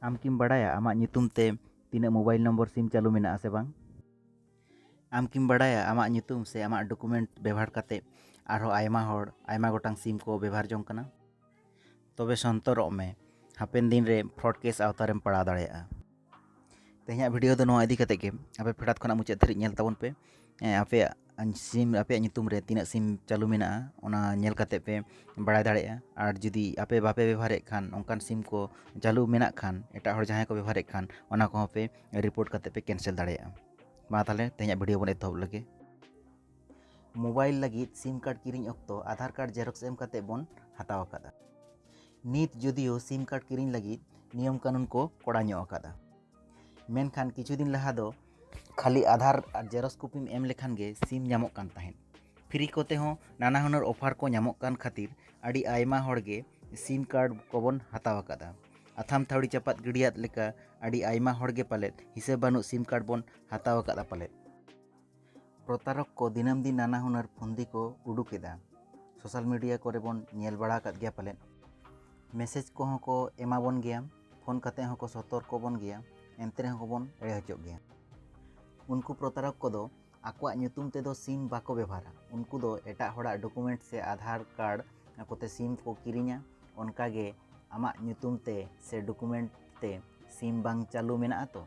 ᱟᱢ ᱠᱤᱢ ᱵᱟᱰᱟᱭᱟ ᱟᱢᱟᱜ ᱧᱩᱛᱩᱢ ᱛᱮ ᱛᱤᱱᱟᱹᱜ ᱢᱳᱵᱟᱭᱤᱞ ᱱᱚᱢᱵᱚᱨ ᱥᱤᱢ ᱪᱟᱹᱞᱩ ᱢᱮᱱᱟᱜᱼᱟ ᱥᱮ ᱵᱟᱝ? ᱟᱢ ᱠᱤᱢ ᱵᱟᱰᱟᱭᱟ ᱟᱢᱟᱜ ᱧᱩᱛᱩᱢ ᱥᱮ ᱟᱢᱟᱜ ᱰᱚᱠᱩᱢᱮᱱᱴ ᱵᱮᱵᱷᱟᱨ ᱠᱟᱛᱮ ᱟᱨᱦᱚᱸ ᱟᱭᱢᱟ ᱦᱚᱲ ᱟᱭᱢᱟ ᱜᱚᱴᱟᱝ ᱥᱤᱢ ᱠᱚ ᱵᱮᱵᱷᱟᱨ ᱡᱚᱝ ᱠᱟᱱᱟ? ᱛᱚᱵᱮ ᱥᱚᱱᱛᱚᱨᱚᱜ ᱢᱮ, ᱦᱟᱯᱮᱱ ᱫᱤᱱ ᱨᱮ ᱯᱷᱨᱚᱰ ᱠᱮᱥ ᱟᱣᱛᱟ ᱨᱮᱢ ᱯᱟᱲᱟᱣ ᱫᱟᱲᱮᱭᱟᱜᱼᱟ᱾ ᱛᱮᱦᱮᱧᱟᱜ ᱵᱷᱤᱰᱤᱭᱳ ᱫᱚ ᱱᱚᱣᱟ ᱤᱫᱤ ᱠᱟᱛᱮ ᱜᱮ᱾ ᱟᱯᱮ ᱯᱷᱮᱰᱟᱛ ᱠᱷᱚᱱᱟᱜ ᱢᱩᱪᱟᱹᱫ ᱫᱷᱟᱹᱨᱤᱡ ᱧᱮᱞ ᱛᱟᱵᱚᱱ ᱯᱮ᱾ ᱦᱮᱸ ᱟᱯᱮᱭᱟᱜ ᱥᱤᱢ ᱟᱯᱮᱭᱟᱜ ᱧᱩᱛᱩᱢ ᱨᱮ ᱛᱤᱱᱟᱹᱜ ᱥᱤᱢ ᱪᱟᱹᱞᱩ ᱢᱮᱱᱟᱜᱼᱟ ᱚᱱᱟ ᱧᱮᱞ ᱠᱟᱛᱮᱫ ᱯᱮ ᱵᱟᱲᱟᱭ ᱫᱟᱲᱮᱭᱟᱜᱼᱟ ᱟᱨ ᱡᱩᱫᱤ ᱟᱯᱮ ᱵᱟᱯᱮ ᱵᱮᱵᱚᱦᱟᱨᱮᱫ ᱠᱷᱟᱱ ᱚᱱᱠᱟᱱ ᱥᱤᱢ ᱠᱚ ᱪᱟᱹᱞᱩ ᱢᱮᱱᱟᱜ ᱠᱷᱟᱱ ᱮᱴᱟᱜ ᱦᱚᱲ ᱡᱟᱦᱟᱸᱭ ᱠᱚ ᱵᱮᱵᱚᱦᱟᱨᱮᱫ ᱠᱷᱟᱱ ᱚᱱᱟ ᱠᱚᱦᱚᱸ ᱯᱮ ᱨᱤᱯᱳᱨᱴ ᱠᱟᱛᱮᱫ ᱯᱮ ᱠᱮᱱᱥᱮᱞ ᱫᱟᱲᱮᱭᱟᱜᱼᱟ ᱢᱟ ᱛᱟᱦᱚᱞᱮ ᱛᱮᱦᱮᱧᱟᱜ ᱵᱷᱤᱰᱤᱭᱳ ᱵᱚᱱ ᱮᱛᱚᱦᱚᱵ ᱞᱮᱜᱮ ᱢᱳᱵᱟᱭᱤᱞ ᱞᱟᱹᱜᱤᱫ ᱥᱤᱢ ᱠᱟᱨᱰ ᱠᱤᱨᱤᱧ ᱚᱠᱛᱚ ᱟᱫᱷᱟᱨ ᱠᱟᱨᱰ ᱡᱮᱨᱚᱠᱥ ᱮᱢ ᱠᱟᱛᱮᱫ ᱵᱚᱱ ᱦᱟᱛᱟᱣ ᱟᱠᱟᱫᱟ ᱱᱤᱛ ᱡᱩᱫᱤᱭᱳ ᱥᱤᱢ ᱠᱟᱨᱰ ᱠᱤᱨᱤᱧ ᱞᱟᱹᱜᱤᱫ ᱱᱤᱭᱚᱢ ᱠᱟᱹᱱᱩᱱ ᱠᱚ ᱠᱚᱲᱟ ᱧᱚᱜ ᱟᱠᱟᱫᱟ ᱢᱮᱱᱠᱷᱟᱱ ᱠᱤᱪᱷᱩ ᱫᱤᱱ ᱞᱟᱦᱟ ᱫᱚ ᱠᱷᱟᱹᱞᱤ ᱟᱫᱷᱟᱨ ᱟᱨ ᱡᱮᱨᱚᱠᱥ ᱠᱚᱯᱤᱢ ᱮᱢ ᱞᱮᱠᱷᱟᱱ ᱜᱮ ᱥᱤᱢ ᱧᱟᱢᱚᱜ ᱠᱟᱱ ᱛᱟᱦᱮᱸᱫ ᱯᱷᱨᱤ ᱠᱚᱛᱮ ᱦᱚᱸ ᱱᱟᱱᱟ ᱦᱩᱱᱟᱹᱨ ᱚᱯᱷᱟᱨ ᱠᱚ ᱧᱟᱢᱚᱜ ᱠᱟᱱ ᱠᱷᱟᱹᱛᱤᱨ ᱟᱹᱰᱤ ᱟᱭᱢᱟ ᱦᱚᱲ ᱜᱮ ᱥᱤᱢ ᱠᱟᱨᱰ ᱠᱚᱵᱚᱱ ᱦᱟᱛᱟᱣ ᱟᱠᱟᱫᱟ ᱟᱛᱷᱟᱢ ᱛᱷᱟᱹᱣᱲᱤ ᱪᱟᱯᱟᱫ ᱜᱤᱰᱤᱭᱟᱫ ᱞᱮᱠᱟ ᱟᱹᱰᱤ ᱟᱭᱢᱟ ᱦᱚᱲ ᱜᱮ ᱯᱟᱞᱮᱫ ᱦᱤᱥᱟᱹᱵᱽ ᱵᱟᱹᱱᱩᱜ ᱥᱤᱢ ᱠᱟᱨᱰ ᱵᱚᱱ ᱦᱟᱛᱟᱣ ᱟᱠᱟᱫᱟ ᱯᱟᱞᱮᱫ ᱯᱨᱚᱛᱟᱨᱚᱠ ᱠᱚ ᱫᱤᱱᱟᱹᱢ ᱫᱤᱱ ᱱᱟᱱᱟ ᱦᱩᱱᱟᱹᱨ ᱯᱷᱚᱱᱫᱤ ᱠᱚ ᱩᱰᱩᱠ ᱮᱫᱟ᱾ ᱥᱳᱥᱟᱞ ᱢᱤᱰᱤᱭᱟ ᱠᱚᱨᱮ ᱵᱚᱱ ᱧᱮᱞ ᱵᱟᱲᱟ ᱟᱠᱟᱫ ᱜᱮᱭᱟ ᱯᱟᱞᱮᱫ᱾ ᱢᱮᱥᱮᱡᱽ ᱠᱚᱦᱚᱸ ᱠᱚ ᱮᱢᱟ ᱵᱚᱱ ᱜᱮᱭᱟ, ᱯᱷᱚᱱ ᱠᱟᱛᱮ ᱦᱚᱸ ᱠᱚ ᱥᱚᱛᱚᱨᱠᱚ ᱵᱚᱱ ᱜᱮᱭᱟ, ᱮᱱᱛᱮ ᱨᱮᱦᱚᱸ ᱠᱚ ᱵᱚᱱ ᱮᱲᱮ ᱦᱚᱪᱚᱜ ᱜᱮᱭᱟ᱾ ᱩᱱᱠᱩ ᱯᱨᱚᱛᱟᱨᱚᱠ ᱠᱚᱫᱚ ᱟᱠᱚᱣᱟᱜ ᱧᱩᱛᱩᱢ ᱛᱮ ᱫᱚ ᱥᱤᱢ ᱵᱟᱠᱚ ᱵᱮᱵᱷᱟᱨᱟ᱾ ᱩᱱᱠᱩ ᱫᱚ ᱮᱴᱟᱜ ᱦᱚᱲᱟᱜ ᱰᱚᱠᱩᱢᱮᱱᱴ ᱥᱮ ᱟᱫᱷᱟᱨ ᱠᱟᱨᱰ ᱠᱚᱛᱮ ᱥᱤᱢ ᱠᱚ ᱠᱤᱨᱤᱧᱟ᱾ ᱚᱱᱠᱟ ᱜᱮ ᱟᱢᱟᱜ ᱧᱩᱛᱩᱢ ᱛᱮ ᱥᱮ ᱰᱚᱠᱩᱢᱮᱱᱴ ᱛᱮ ᱥᱤᱢ ᱵᱟᱝ ᱪᱟᱹᱞᱩ ᱢᱮᱱᱟᱜᱼᱟ ᱛᱚ᱾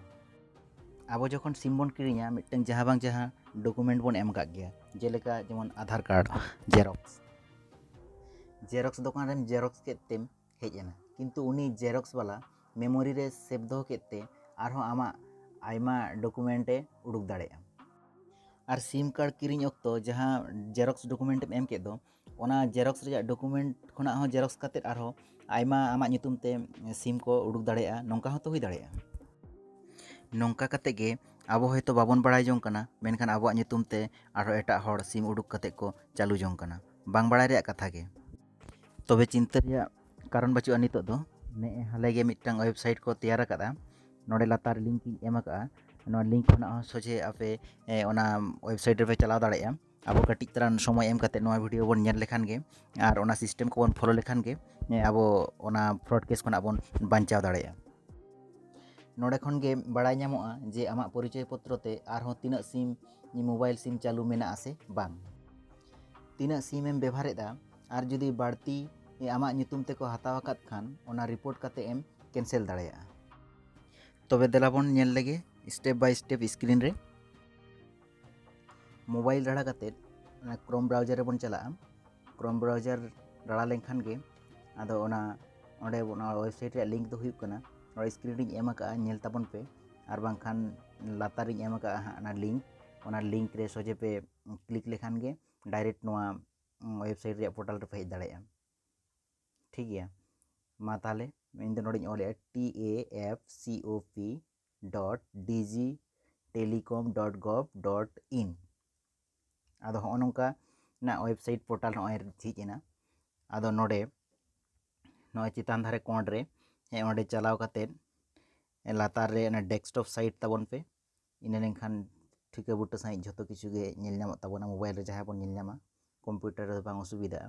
ᱟᱵᱚ ᱡᱚᱠᱷᱚᱱ ᱥᱤᱢ ᱵᱚᱱ ᱠᱤᱨᱤᱧᱟ ᱢᱤᱫᱴᱟᱝ ᱡᱟᱦᱟᱸ ᱵᱟᱝ ᱡᱟᱦᱟᱸ ᱰᱚᱠᱩᱢᱮᱱᱴ ᱵᱚᱱ ᱮᱢ ᱠᱟᱜ ᱜᱮᱭᱟ ᱡᱮᱞᱮᱠᱟ ᱡᱮᱢᱚᱱ ᱟᱫᱷᱟᱨ ᱠᱟᱨᱰ ᱡᱮᱨᱚᱠᱥ ᱡᱮᱨᱚᱠᱥ ᱫᱚᱠᱟᱱ ᱨᱮᱢ ᱡᱮᱨᱚᱠᱥ ᱠᱮᱫ ᱛᱮᱢ ᱦᱮᱡ ᱮᱱᱟ ᱠᱤᱱᱛᱩ ᱩᱱᱤ ᱡᱮᱨᱚᱠᱥ ᱵᱟᱞᱟ ᱢᱮᱢᱳᱨᱤ ᱨᱮ ᱥᱮᱵᱷ ᱫᱚᱦᱚ ᱠᱮᱫ ᱛᱮ ᱟᱨᱦᱚᱸ ᱟᱢᱟᱜ ᱟᱭᱢᱟ ᱰᱚᱠᱩᱢᱮᱱᱴ ᱮ ᱩᱰᱩᱠ ᱫᱟᱲᱮᱭᱟᱜᱼᱟ ᱟᱨ ᱥᱤᱢ ᱠᱟᱨᱰ ᱠᱤᱨᱤᱧ ᱚᱠᱛᱚ ᱡᱟᱦᱟᱸ ᱡᱮᱨᱚᱠᱥ ᱰᱚᱠᱩᱢᱮᱱᱴ ᱮᱢ ᱮᱢ ᱠᱮᱫ ᱫᱚ ᱚᱱᱟ ᱡᱮᱨᱚᱠᱥ ᱨᱮᱭᱟᱜ ᱰᱚᱠᱩᱢᱮᱱᱴ ᱠᱷᱚᱱᱟᱜ ᱦᱚᱸ ᱡᱮᱨᱚᱠᱥ ᱠᱟᱛᱮᱫ ᱟᱨᱦᱚᱸ ᱟᱭᱢᱟ ᱟᱢᱟᱜ ᱧᱩᱛᱩᱢ ᱛᱮ ᱥᱤᱢ ᱠᱚ ᱩᱰᱩᱠ ᱫᱟᱲᱮᱭᱟᱜᱼᱟ ᱱᱚᱝᱠᱟ ᱦᱚᱸᱛᱚ ᱦᱩᱭ ᱫᱟᱲᱮᱭᱟᱜᱼᱟ ᱱᱚᱝᱠᱟ ᱠᱟᱛᱮᱫ ᱜᱮ ᱟᱵᱚ ᱦᱚᱭᱛᱳ ᱵᱟᱵᱚᱱ ᱵᱟᱲᱟᱭ ᱡᱚᱝ ᱠᱟᱱᱟ ᱢᱮᱱᱠᱷᱟᱱ ᱟᱵᱚᱣᱟᱜ ᱧᱩᱛᱩᱢ ᱛᱮ ᱟᱨᱦᱚᱸ ᱮᱴᱟᱜ ᱦᱚᱲ ᱥᱤᱢ ᱩᱰᱩᱠ ᱠᱟᱛᱮᱫ ᱠᱚ ᱪᱟᱹᱞᱩ ᱡᱚᱝ ᱠᱟᱱᱟ ᱵᱟᱝ ᱵᱟᱲᱟᱭ ᱨᱮᱭᱟᱜ ᱠᱟᱛᱷᱟ ᱜᱮ ᱛᱚᱵᱮ ᱪᱤᱱᱛᱟᱹ ᱨᱮᱭᱟᱜ ᱠᱟᱨᱚᱱ ᱵᱟᱹᱪᱩᱜᱼᱟ ᱱᱤᱛᱚᱜ ᱫᱚ ᱱᱮᱜᱼᱮ ᱦᱟᱞᱮ ᱜᱮ ᱢᱤᱫᱴᱟᱝ ᱳᱭᱮᱵᱽᱥᱟᱭᱤᱴ ᱠᱚ ᱛᱮᱭᱟᱨ ᱟᱠᱟᱫᱟ ᱱᱚᱰᱮ ᱞᱟᱛᱟᱨ ᱞᱤᱝᱠ ᱤᱧ ᱮᱢ ᱟᱠᱟᱫᱼᱟ ᱱᱚᱣᱟ ᱞᱤᱝᱠ ᱠᱷᱚᱱᱟᱜ ᱦᱚᱸ ᱥᱚᱡᱷᱮ ᱟᱯᱮ ᱚᱱᱟ ᱳᱭᱮᱵᱽᱥᱟᱭᱤᱴ ᱨᱮᱯᱮ ᱪᱟᱞᱟᱣ ᱫᱟᱲᱮᱭᱟᱜᱼᱟ ᱟᱵᱚ ᱠᱟᱹᱴᱤᱡ ᱛᱟᱞᱟᱝ ᱥᱚᱢᱚᱭ ᱮᱢ ᱠᱟᱛᱮ ᱱᱚᱣᱟ ᱵᱷᱤᱰᱤᱭᱳ ᱵᱚᱱ ᱧᱮᱞ ᱞᱮᱠᱷᱟᱱ ᱜᱮ ᱟᱨ ᱚᱱᱟ ᱥᱤᱥᱴᱮᱢ ᱠᱚᱵᱚᱱ ᱯᱷᱳᱞᱳ ᱞᱮᱠᱷᱟᱱ ᱜᱮ ᱟᱵᱚ ᱚᱱᱟ ᱯᱷᱨᱚᱰ ᱠᱮᱥ ᱠᱷᱚᱱᱟᱜ ᱵᱚᱱ ᱵᱟᱧᱪᱟᱣ ᱫᱟᱲᱮᱭᱟᱜᱼᱟ ᱱᱚᱰᱮ ᱠᱷᱚᱱ ᱜᱮ ᱵᱟᱲᱟᱭ ᱧᱟᱢᱚᱜᱼᱟ ᱡᱮ ᱟᱢᱟᱜ ᱯᱚᱨᱤᱪᱚᱭ ᱯᱚᱛᱨᱚ ᱛᱮ ᱟᱨᱦᱚᱸ ᱛᱤᱱᱟᱹᱜ ᱥᱤᱢ ᱢᱳᱵᱟᱭᱤᱞ ᱥᱤᱢ ᱪᱟᱹᱞᱩ ᱢᱮᱱᱟᱜ ᱟᱥᱮ ᱵᱟᱝ ᱛᱤᱱᱟᱹᱜ ᱥᱤᱢ ᱮᱢ ᱵᱮᱵᱷᱟᱨᱮᱫᱟ ᱟᱨ ᱡᱩᱫᱤ ᱵᱟᱹᱲᱛᱤ ᱟᱢᱟᱜ ᱧᱩᱛᱩᱢ ᱛᱮᱠᱚ ᱦᱟᱛᱟᱣ ᱟᱠᱟᱫ ᱠᱷᱟᱱ ᱚᱱᱟ ᱨᱤᱯᱳᱨᱴ ᱠᱟᱛᱮ ᱮᱢ ᱠᱮᱱᱥᱮᱞ ᱫᱟᱲᱮᱭᱟᱜᱼᱟ ᱛᱚᱵᱮ ᱫᱮᱞᱟ ᱵᱚᱱ ᱧᱮᱞ ᱞᱮᱜᱮ ᱥᱴᱮᱯ ᱵᱟᱭ ᱥᱴᱮᱯ ᱥᱠᱨᱤᱱ ᱨᱮ ᱢᱳᱵᱟᱭᱤᱞ ᱨᱟᱲᱟ ᱠᱟᱛᱮ ᱚᱱᱟ ᱠᱨᱳᱢ ᱵᱨᱟᱣᱡᱟᱨ ᱨᱮᱵᱚᱱ ᱪᱟᱞᱟᱜᱼᱟ ᱠᱨᱳᱢ ᱵᱨᱟᱣᱡᱟᱨ ᱨᱟᱲᱟ ᱞᱮᱱᱠᱷᱟᱱ ᱜᱮ ᱟᱫᱚ ᱚᱱᱟ ᱚᱸᱰᱮ ᱚᱱᱟ ᱳᱭᱮᱵᱽᱥᱟᱭᱤᱴ ᱨᱮᱭᱟᱜ ᱞᱤᱝᱠ ᱫᱚ ᱦᱩᱭᱩᱜ ᱠᱟᱱᱟ ᱱᱚᱣᱟ ᱥᱠᱨᱤᱱ ᱨᱤᱧ ᱮᱢ ᱟᱠᱟᱫᱼᱟ ᱧᱮᱞ ᱛᱟᱵᱚᱱ ᱯᱮ ᱟᱨ ᱵᱟᱝᱠᱷᱟᱱ ᱞᱟᱛᱟᱨ ᱨᱤᱧ ᱮᱢ ᱟᱠᱟᱫᱼᱟ ᱦᱟᱸᱜ ᱚᱱᱟ ᱞᱤᱝᱠ ᱚᱱᱟ ᱞᱤᱝᱠ ᱨᱮ ᱥᱚᱡᱷᱮ ᱯᱮ ᱠᱞᱤᱠ ᱞᱮᱠᱷᱟᱱ ᱜᱮ ᱰᱟᱭᱨᱮᱠᱴ ᱱᱚᱣᱟ ᱳᱭᱮᱵᱽᱥᱟᱭᱤᱴ ᱨᱮᱭᱟᱜ ᱯᱳᱨᱴᱟᱞ ᱨᱮᱯᱮ ᱦᱮᱡ ᱫᱟᱲᱮᱭᱟᱜᱼᱟ ᱴᱷᱤᱠ ᱜᱮᱭᱟ ᱢᱟ ᱛᱟᱦᱚᱞᱮ ᱤᱧ ᱫᱚ ᱱᱚᱰᱮᱧ ᱚᱞᱮᱫᱼᱟ T A F C O P dot D G telecom dot gov dot in ᱟᱫᱚ ᱦᱚᱸᱜᱼᱚ ᱱᱚᱝᱠᱟ ᱱᱟᱜ ᱳᱭᱮᱵᱽᱥᱟᱭᱤᱴ ᱯᱳᱨᱴᱟᱞ ᱱᱚᱜᱼᱚᱭ ᱡᱷᱤᱡ ᱮᱱᱟ ᱟᱫᱚ ᱱᱚᱰᱮ ᱱᱚᱜᱼᱚᱭ ᱪᱮᱛᱟᱱ ᱫᱷᱟᱨᱮ ᱠᱚᱬ ᱨᱮ ᱦᱮᱸ ᱚᱸᱰᱮ ᱪᱟᱞᱟᱣ ᱠᱟᱛᱮᱫ ᱞᱟᱛᱟᱨ ᱨᱮ ᱚᱱᱟ ᱰᱮᱥᱠᱴᱚᱯ ᱥᱟᱭᱤᱴ ᱛᱟᱵᱚᱱ ᱯᱮ ᱤᱱᱟᱹ ᱞᱮᱱᱠᱷᱟᱱ ᱴᱷᱤᱠᱟᱹ ᱵᱩᱴᱟᱹ ᱥᱟᱺᱦᱤᱡ ᱡᱷᱚᱛᱚ ᱠᱤᱪᱷᱩ ᱜᱮ ᱧᱮᱞ ᱧᱟᱢᱚᱜ ᱛᱟᱵᱚᱱᱟ ᱢᱳᱵᱟᱭᱤᱞ ᱨᱮ ᱡᱟᱦᱟᱸ ᱵᱚᱱ ᱧᱮᱞ ᱧᱟᱢᱟ ᱠᱚᱢᱯᱤᱭᱩᱴᱟᱨ ᱨᱮᱫᱚ ᱵᱟᱝ ᱚᱥᱩᱵᱤᱫᱟᱜᱼᱟ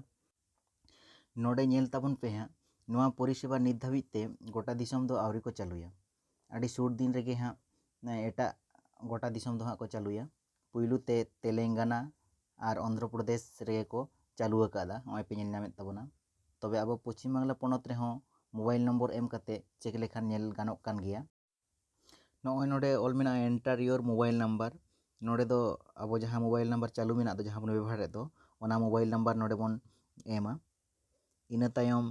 ᱱᱚᱰᱮ ᱧᱮᱞ ᱛᱟᱵᱚᱱ ᱯᱮ ᱦᱟᱸᱜ ᱱᱚᱣᱟ ᱯᱚᱨᱤᱥᱮᱵᱟ ᱱᱤᱛ ᱫᱷᱟᱹᱵᱤᱡ ᱛᱮ ᱜᱚᱴᱟ ᱫᱤᱥᱚᱢ ᱫᱚ ᱟᱹᱣᱨᱤ ᱠᱚ ᱪᱟᱹᱞᱩᱭᱟ ᱟᱹᱰᱤ ᱥᱩᱨ ᱫᱤᱱ ᱨᱮᱜᱮ ᱦᱟᱸᱜ ᱮᱴᱟᱜ ᱜᱚᱴᱟ ᱫᱤᱥᱚᱢ ᱫᱚ ᱦᱟᱸᱜ ᱠᱚ ᱪᱟᱹᱞᱩᱭᱟ ᱯᱩᱭᱞᱩ ᱛᱮ ᱛᱮᱞᱮᱝᱜᱟᱱᱟ ᱟᱨ ᱚᱱᱫᱷᱨᱚ ᱯᱨᱚᱫᱮᱥ ᱨᱮᱜᱮ ᱠᱚ ᱪᱟᱹᱞᱩ ᱟᱠᱟᱫᱟ ᱱᱚᱜᱼᱚᱭ ᱯᱮ ᱧᱮᱞ ᱧᱟᱢᱮᱫ ᱛᱟᱵᱚᱱᱟ ᱛᱚᱵᱮ ᱟᱵᱚ ᱯᱚᱪᱷᱤᱢ ᱵᱟᱝᱞᱟ ᱯᱚᱱᱚᱛ ᱨᱮᱦᱚᱸ ᱢᱳᱵᱟᱭᱤᱞ ᱱᱚᱢᱵᱚᱨ ᱮᱢ ᱠᱟᱛᱮᱫ ᱪᱮᱠ ᱞᱮᱠᱷᱟᱱ ᱧᱮᱞ ᱜᱟᱱᱚᱜ ᱠᱟᱱ ᱜᱮᱭᱟ ᱱᱚᱜᱼᱚᱭ ᱱᱚᱰᱮ ᱚᱞ ᱢᱮᱱᱟᱜᱼᱟ ᱮᱱᱴᱟᱨ ᱤᱭᱳᱨ ᱢᱳᱵᱟᱭᱤᱞ ᱱᱟᱢᱵᱟᱨ ᱱᱚᱰᱮ ᱫᱚ ᱟᱵᱚ ᱡᱟᱦᱟᱸ ᱢᱳᱵᱟᱭᱤᱞ ᱱᱟᱢᱵᱟᱨ ᱪᱟᱹᱞᱩ ᱢᱮᱱᱟᱜ ᱫᱚ ᱡᱟᱦᱟᱸ ᱵᱚᱱ ᱵᱮᱵᱚᱦᱟᱨᱮᱫ ᱫᱚ ᱚᱱᱟ ᱢᱳᱵᱟᱭᱤᱞ ᱱᱟᱢᱵᱟᱨ ᱱᱚᱰᱮ ᱵᱚᱱ ᱮᱢᱟ ᱤᱱᱟᱹ ᱛᱟᱭᱚᱢ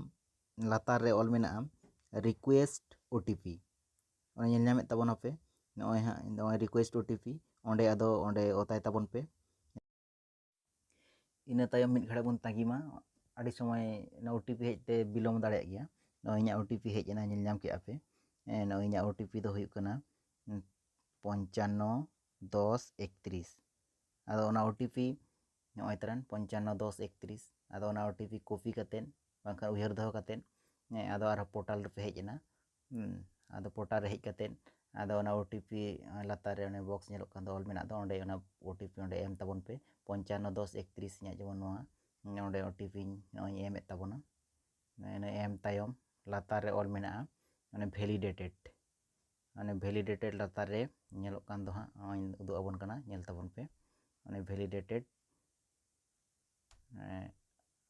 ᱞᱟᱛᱟᱨ ᱨᱮ ᱚᱞ ᱢᱮᱱᱟᱜᱼᱟ ᱨᱤᱠᱩᱭᱮᱥᱴ ᱳ ᱴᱤ ᱯᱤ ᱚᱱᱟ ᱧᱮᱞ ᱧᱟᱢᱮᱫ ᱛᱟᱵᱚᱱᱟ ᱯᱮ ᱱᱚᱜᱼᱚᱭ ᱦᱟᱸᱜ ᱱᱚᱜᱼᱚᱭ ᱨᱤᱠᱩᱭᱮᱥᱴ ᱳ ᱴᱤ ᱯᱤ ᱚᱸᱰᱮ ᱟᱫᱚ ᱚᱸᱰᱮ ᱚᱛᱟᱭ ᱛᱟᱵᱚᱱ ᱯᱮ ᱤᱱᱟᱹ ᱛᱟᱭᱚᱢ ᱢᱤᱫ ᱜᱷᱟᱹᱲᱤᱡ ᱵᱚᱱ ᱛᱟᱺᱜᱤ ᱢᱟ ᱟᱹᱰᱤ ᱥᱚᱢᱚᱭ ᱚᱱᱟ ᱳ ᱴᱤ ᱯᱤ ᱦᱮᱡ ᱛᱮ ᱵᱤᱞᱚᱢ ᱫᱟᱲᱮᱭᱟᱜ ᱜᱮᱭᱟ ᱱᱚᱜᱼᱚᱭ ᱤᱧᱟᱹᱜ ᱳ ᱴᱤ ᱯᱤ ᱦᱮᱡ ᱮᱱᱟ ᱧᱮᱞ ᱧᱟᱢ ᱠᱮᱜᱼᱟ ᱯᱮ ᱱᱚᱜᱼᱚᱭ ᱤᱧᱟᱹᱜ ᱳ ᱴᱤ ᱯᱤ ᱫᱚ ᱦᱩᱭᱩᱜ ᱠᱟᱱᱟ ᱯᱚᱧᱪᱟᱱᱱᱚ ᱫᱚᱥ ᱮᱠᱛᱨᱤᱥ ᱟᱫᱚ ᱚᱱᱟ ᱳ ᱴᱤ ᱯᱤ ᱱᱚᱜᱼᱚᱭ ᱛᱟᱨᱮᱱ ᱯᱚᱧᱪᱟᱱᱱᱚ ᱫᱚᱥ ᱮᱠᱛᱨᱤᱥ ᱟᱫᱚ ᱚᱱᱟ ᱳᱴᱤᱯᱤ ᱠᱚᱯᱤ ᱠᱟᱛᱮᱫ ᱵᱟᱝᱠᱷᱟᱱ ᱩᱭᱦᱟᱹᱨ ᱫᱚᱦᱚ ᱠᱟᱛᱮᱫ ᱦᱮᱸ ᱟᱫᱚ ᱟᱨᱦᱚᱸ ᱯᱳᱨᱴᱟᱞ ᱨᱮᱯᱮ ᱦᱮᱡ ᱮᱱᱟ ᱟᱫᱚ ᱯᱳᱨᱴᱟᱞ ᱨᱮ ᱦᱮᱡ ᱠᱟᱛᱮᱫ ᱟᱫᱚ ᱚᱱᱟ ᱳᱴᱤᱯᱤ ᱞᱟᱛᱟᱨ ᱨᱮ ᱚᱱᱮ ᱵᱚᱠᱥ ᱧᱮᱞᱚᱜ ᱠᱟᱱ ᱫᱚ ᱚᱞ ᱢᱮᱱᱟᱜ ᱫᱚ ᱚᱸᱰᱮ ᱚᱱᱟ ᱳᱴᱤᱯᱤ ᱚᱸᱰᱮ ᱮᱢ ᱛᱟᱵᱚᱱ ᱯᱮ ᱯᱚᱧᱪᱟᱱᱱᱚ ᱫᱚᱥ ᱮᱠᱛᱨᱤᱥ ᱤᱧᱟᱹᱜ ᱡᱮᱢᱚᱱ ᱱᱚᱣᱟ ᱱᱚᱸᱰᱮ ᱳᱴᱤᱯᱤᱧ ᱱᱚᱜᱼᱚᱭ ᱮᱢᱮᱫ ᱛᱟᱵᱚᱱᱟ ᱤᱱᱟᱹ ᱮᱢ ᱛᱟᱭᱚᱢ ᱞᱟᱛᱟᱨ ᱨᱮ ᱚᱞ ᱢᱮᱱᱟᱜᱼᱟ ᱚᱱᱮ ᱵᱷᱮᱞᱤᱰᱮᱴᱮᱰ ᱢᱟᱱᱮ ᱵᱷᱮᱞᱤᱰᱮᱴᱮᱰ ᱞᱟᱛᱟᱨ ᱨᱮ ᱧᱮᱞᱚᱜ ᱠᱟᱱ ᱫᱚ ᱦᱟᱸᱜ ᱱᱚᱜᱼᱚᱭ ᱩᱫᱩᱜ ᱟᱵᱚᱱ ᱠᱟᱱᱟ ᱧᱮᱞ ᱛᱟᱵᱚᱱ ᱯᱮ ᱢᱟᱱᱮ ᱵᱷᱮᱞᱤᱰᱮᱴᱮᱰ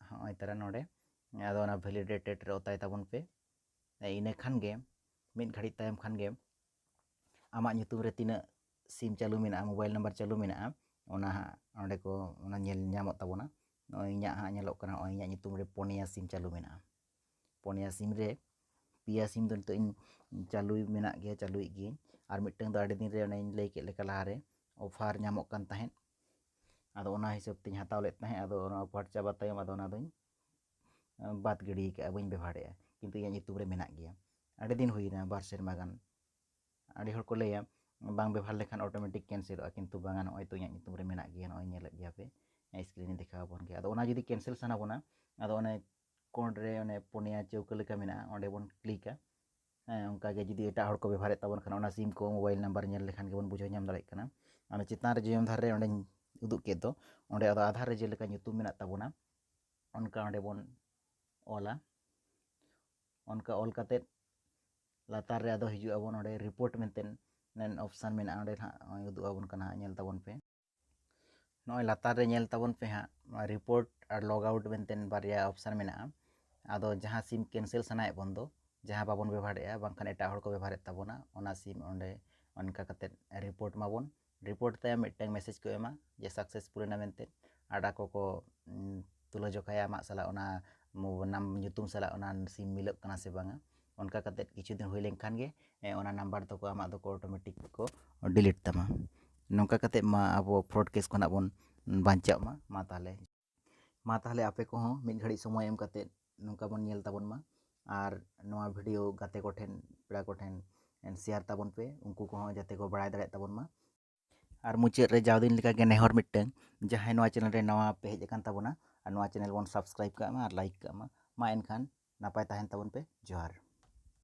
ᱦᱚᱸᱜᱼᱚᱭ ᱛᱟᱨᱟ ᱱᱚᱰᱮ ᱟᱫᱚ ᱚᱱᱟ ᱵᱷᱮᱞᱤᱰᱮᱴᱮᱰ ᱨᱮ ᱚᱛᱟᱭ ᱛᱟᱵᱚᱱ ᱯᱮ ᱤᱱᱟᱹ ᱠᱷᱟᱱ ᱜᱮ ᱢᱤᱫ ᱜᱷᱟᱹᱲᱤᱡ ᱛᱟᱭᱚᱢ ᱠᱷᱟᱱ ᱜᱮ ᱟᱢᱟᱜ ᱧᱩᱛᱩᱢ ᱨᱮ ᱛᱤᱱᱟᱹᱜ ᱥᱤᱢ ᱪᱟᱹᱞᱩ ᱢᱮᱱᱟᱜᱼᱟ ᱢᱳᱵᱟᱭᱤᱞ ᱱᱟᱢᱵᱟᱨ ᱪᱟᱹᱞᱩ ᱢᱮᱱᱟᱜᱼᱟ ᱚᱱᱟ ᱦᱟᱸᱜ ᱚᱸᱰᱮ ᱠᱚ ᱚᱱᱟ ᱧᱮᱞ ᱧᱟᱢᱚᱜ ᱛᱟᱵᱚᱱᱟ ᱱᱚᱜᱼᱚᱭ ᱤᱧᱟᱹᱜ ᱦᱟᱸᱜ ᱧᱮᱞᱚᱜ ᱠᱟᱱᱟ ᱱᱚᱜᱼᱚᱭ ᱤᱧᱟᱹᱜ ᱧᱩᱛᱩᱢ ᱨᱮ ᱯᱩᱱᱭᱟ ᱥᱤᱢ ᱪᱟᱹᱞᱩ ᱢᱮᱱᱟᱜᱼᱟ ᱯᱩᱱᱭᱟ ᱥᱤᱢ ᱨᱮ ᱯᱮᱭᱟ ᱥᱤᱢ ᱫᱚ ᱱᱤᱛᱚᱜ ᱤᱧ ᱪᱟᱹᱞᱩ ᱢᱮᱱᱟᱜ ᱜᱮᱭᱟ ᱪᱟᱹᱞᱩᱭᱮᱫ ᱜᱤᱭᱟᱹᱧ ᱟᱨ ᱢᱤᱫᱴᱟᱹᱝ ᱫᱚ ᱟᱹᱰᱤ ᱫᱤᱱ ᱨᱮ ᱚᱱᱮᱧ ᱞᱟᱹᱭ ᱠᱮᱫ ᱞᱮᱠᱟ ᱞᱟᱦᱟ ᱨᱮ ᱚᱯᱷᱟᱨ ᱧᱟᱢᱚᱜ ᱠᱟᱱ ᱛᱟᱦᱮᱸᱫ ᱟᱫᱚ ᱚᱱᱟ ᱦᱤᱥᱟᱹᱵ ᱛᱤᱧ ᱦᱟᱛᱟᱣ ᱞᱮᱫ ᱛᱟᱦᱮᱸᱫ ᱟᱫᱚ ᱚᱱᱟ ᱚᱯᱷᱟᱨ ᱪᱟᱵᱟ ᱛᱟᱭᱚᱢ ᱟᱫᱚ ᱚᱱᱟ ᱫᱚᱧ ᱵᱟᱫᱽ ᱜᱤᱰᱤ ᱠᱟᱜᱼᱟ ᱵᱟᱹᱧ ᱵᱮᱵᱷᱟᱨᱮᱜᱼᱟ ᱠᱤᱱᱛᱩ ᱤᱧᱟᱹᱜ ᱧᱩᱛᱩᱢ ᱨᱮ ᱢᱮᱱᱟᱜ ᱜᱮᱭᱟ ᱟᱹᱰᱤ ᱫᱤᱱ ᱦᱩᱭᱱᱟ ᱵᱟᱨ ᱥᱮᱨᱢᱟ ᱜᱟᱱ ᱟᱹᱰᱤ ᱦᱚᱲ ᱠᱚ ᱞᱟᱹᱭᱟ ᱵᱟᱝ ᱵᱮᱵᱷᱟᱨ ᱞᱮᱠᱷᱟᱱ ᱚᱴᱳᱢᱮᱴᱤᱠ ᱠᱮᱱᱥᱮᱞᱚᱜᱼᱟ ᱠᱤᱱᱛᱩ ᱵᱟᱝᱟ ᱱᱚᱜᱼᱚᱭ ᱛᱚ ᱤᱧᱟᱹᱜ ᱧᱩᱛᱩᱢ ᱨᱮ ᱢᱮᱱᱟᱜ ᱜᱮᱭᱟ ᱱᱚᱜᱼᱚᱭ ᱧᱮᱞᱮᱫ ᱜᱮᱭᱟ ᱯᱮ ᱥᱠᱨᱤᱱ ᱨᱮ ᱫᱮᱠᱷᱟᱣ ᱟᱵᱚᱱ ᱜᱮᱭᱟ ᱟᱫᱚ ᱚᱱᱟ ᱡᱩᱫᱤ ᱠᱮᱱᱥᱮᱞ ᱥᱟᱱᱟ ᱵᱚᱱᱟ ᱟᱫᱚ ᱚᱱᱮ ᱠᱚᱬ ᱨᱮ ᱚᱱᱮ ᱯᱩᱱᱭᱟ ᱪᱟᱹᱣᱠᱟᱹ ᱞᱮᱠᱟ ᱢᱮᱱᱟᱜᱼᱟ ᱚᱸᱰᱮ ᱵᱚᱱ ᱠᱞᱤᱠᱟ ᱦᱮᱸ ᱚᱱᱠᱟᱜᱮ ᱡᱩᱫᱤ ᱮᱴᱟᱜ ᱦᱚᱲ ᱠᱚ ᱵᱮᱵᱷᱟᱨᱮᱫ ᱛᱟᱵᱚᱱ ᱠᱷᱟᱱ ᱚᱱᱟ ᱥᱤᱢ ᱠᱚ ᱢᱳᱵᱟᱭᱤᱞ ᱱᱟᱢᱵᱟᱨ ᱧᱮᱞ ᱞᱮᱠᱷᱟᱱ ᱜᱮᱵᱚᱱ ᱵᱩᱡᱷᱟᱹᱣ ᱧᱟᱢ ᱫᱟᱲᱮᱭᱟᱜ ᱠᱟᱱᱟ ᱚᱱᱟ ᱪᱮᱛᱟᱱ ᱨᱮ ᱡᱚᱭᱚᱱ ᱫᱷᱟᱨᱮ ᱚᱸᱰᱮᱧ ᱩᱫᱩᱜ ᱠᱮᱫ ᱫᱚ ᱚᱸᱰᱮ ᱟᱫᱚ ᱟᱫᱷᱟᱨ ᱨᱮ ᱡᱮᱞᱮᱠᱟ ᱧᱩᱛᱩᱢ ᱢᱮᱱᱟᱜ ᱛᱟᱵᱚᱱᱟ ᱚᱱᱠᱟ ᱚᱸᱰᱮ ᱵᱚᱱ ᱚᱞᱟ ᱚᱱᱠᱟ ᱚᱞ ᱠᱟᱛᱮᱫ ᱞᱟᱛᱟᱨ ᱨᱮ ᱟᱫᱚ ᱦᱤᱡᱩᱜ ᱟᱵᱚᱱ ᱚᱸᱰᱮ ᱨᱤᱯᱳᱨᱴ ᱢᱮᱱᱛᱮ ᱚᱯᱥᱟᱱ ᱢᱮᱱᱟᱜᱼᱟ ᱚᱸᱰᱮ ᱱᱟᱦᱟᱜ ᱩᱫᱩᱜ ᱟᱵᱚᱱ ᱠᱟᱱᱟ ᱧᱮᱞ ᱛᱟᱵᱚᱱ ᱯᱮ ᱱᱚᱜᱼᱚᱭ ᱞᱟᱛᱟᱨ ᱨᱮ ᱧᱮᱞ ᱛᱟᱵᱚᱱ ᱯᱮ ᱦᱟᱸᱜ ᱱᱚᱣᱟ ᱨᱤᱯᱳᱨᱴ ᱟᱨ ᱞᱚᱜ ᱟᱣᱩᱴ ᱢᱮᱱᱛᱮ ᱵᱟᱨᱭᱟ ᱚᱯᱥᱟᱱ ᱢᱮᱱᱟᱜᱼᱟ ᱟᱫᱚ ᱡᱟᱦᱟᱸ ᱥᱤᱢ ᱠᱮᱱᱥᱮᱞ ᱥᱟᱱᱟᱭᱮᱫ ᱵᱚᱱ ᱫᱚ ᱡᱟᱦᱟᱸ ᱵᱟᱵᱚᱱ ᱵᱮᱵᱚᱦᱟᱨᱮᱫᱼᱟ ᱵᱟᱝᱠᱷᱟᱱ ᱮᱴᱟᱜ ᱦᱚᱲ ᱠᱚ ᱵᱮᱵᱚᱦᱟᱨᱮᱫ ᱛᱟᱵᱚᱱᱟ ᱚᱱᱟ ᱥᱤᱢ ᱚᱸᱰᱮ ᱚᱱᱠᱟ ᱠᱟᱛᱮᱫ ᱨᱤᱯᱳᱨᱴ ᱢᱟᱵᱚᱱ ᱨᱤᱯᱳᱨᱴ ᱛᱟᱭᱚᱢ ᱢᱤᱫᱴᱟᱝ ᱢᱮᱥᱮᱡᱽ ᱠᱚ ᱮᱢᱟ ᱡᱮ ᱥᱟᱠᱥᱮᱥᱯᱷᱩᱞ ᱮᱱᱟ ᱢᱮᱱᱛᱮ ᱟᱨ ᱟᱠᱚ ᱠᱚ ᱛᱩᱞᱟᱹ ᱡᱚᱠᱷᱟᱭᱟ ᱟᱢᱟᱜ ᱥᱟᱞᱟᱜ ᱚᱱᱟ ᱱᱟᱢ ᱧᱩᱛᱩᱢ ᱥᱟᱞᱟᱜ ᱚᱱᱟ ᱥᱤᱢ ᱢᱤᱞᱟᱹᱜ ᱠᱟᱱᱟ ᱥᱮ ᱵᱟᱝᱟ ᱚᱱᱠᱟ ᱠᱟᱛᱮᱫ ᱠᱤᱪᱷᱩ ᱫᱤᱱ ᱦᱩᱭ ᱞᱮᱱᱠᱷᱟᱱ ᱜᱮ ᱚᱱᱟ ᱱᱟᱢᱵᱟᱨ ᱫᱚᱠᱚ ᱟᱢᱟᱜ ᱫᱚᱠᱚ ᱚᱴᱳᱢᱮᱴᱤᱠ ᱠᱚ ᱰᱤᱞᱤᱴ ᱛᱟᱢᱟ ᱱᱚᱝᱠᱟ ᱠᱟᱛᱮᱫ ᱢᱟ ᱟᱵᱚ ᱯᱷᱨᱚᱰ ᱠᱮᱥ ᱠᱷᱚᱱᱟᱜ ᱵᱚᱱ ᱵᱟᱧᱪᱟᱜ ᱢᱟ ᱢᱟ ᱛᱟᱦᱚᱞᱮ ᱢᱟ ᱛᱟᱦᱚᱞᱮ ᱟᱯᱮ ᱠᱚᱦᱚᱸ ᱢᱤᱫ ᱜᱷᱟᱹᱲᱤᱡ ᱥᱚᱢᱚᱭ ᱮᱢ ᱠᱟᱛᱮᱫ ᱱᱚᱝᱠᱟ ᱵᱚᱱ ᱧᱮᱞ ᱛᱟᱵᱚᱱ ᱢᱟ ᱟᱨ ᱱᱚᱣᱟ ᱵᱷᱤᱰᱤᱭᱳ ᱜᱟᱛᱮ ᱠᱚᱴᱷᱮᱱ ᱯᱮᱲᱟ ᱠᱚᱴᱷᱮᱱ ᱥᱮᱭᱟᱨ ᱛᱟᱵᱚᱱ ᱯᱮ ᱩᱱᱠᱩ ᱠᱚᱦᱚᱸ ᱡᱟᱛᱮ ᱠᱚ ᱵᱟᱲᱟᱭ ᱫᱟᱲᱮᱭᱟᱜ ᱛᱟᱵᱚᱱ ᱢᱟ ᱟᱨ ᱢᱩᱪᱟᱹᱫ ᱨᱮ ᱡᱟᱣᱫᱤᱱ ᱞᱮᱠᱟᱜᱮ ᱱᱮᱦᱚᱨ ᱢᱤᱫᱴᱟᱝ ᱡᱟᱦᱟᱸᱭ ᱱᱚᱣᱟ ᱪᱮᱱᱮᱞ ᱨᱮ ᱱᱟᱣᱟ ᱯᱮ ᱦᱮᱡ ᱟᱠᱟᱱ ᱛᱟᱵᱚᱱᱟ ᱟᱨ ᱱᱚᱣᱟ ᱪᱮᱱᱮᱞ ᱵᱚᱱ ᱥᱟᱵᱥᱠᱨᱟᱭᱤᱵᱽ ᱠᱟᱜ ᱢᱟ ᱟᱨ ᱞᱟᱭᱤᱠ ᱠᱟᱜ ᱢᱟ ᱢᱟ ᱮᱱᱠᱷᱟᱱ ᱱᱟᱯᱟᱭ ᱛᱟᱦᱮᱱ ᱛᱟᱵᱚᱱ ᱯᱮ ᱡᱚᱦᱟᱨ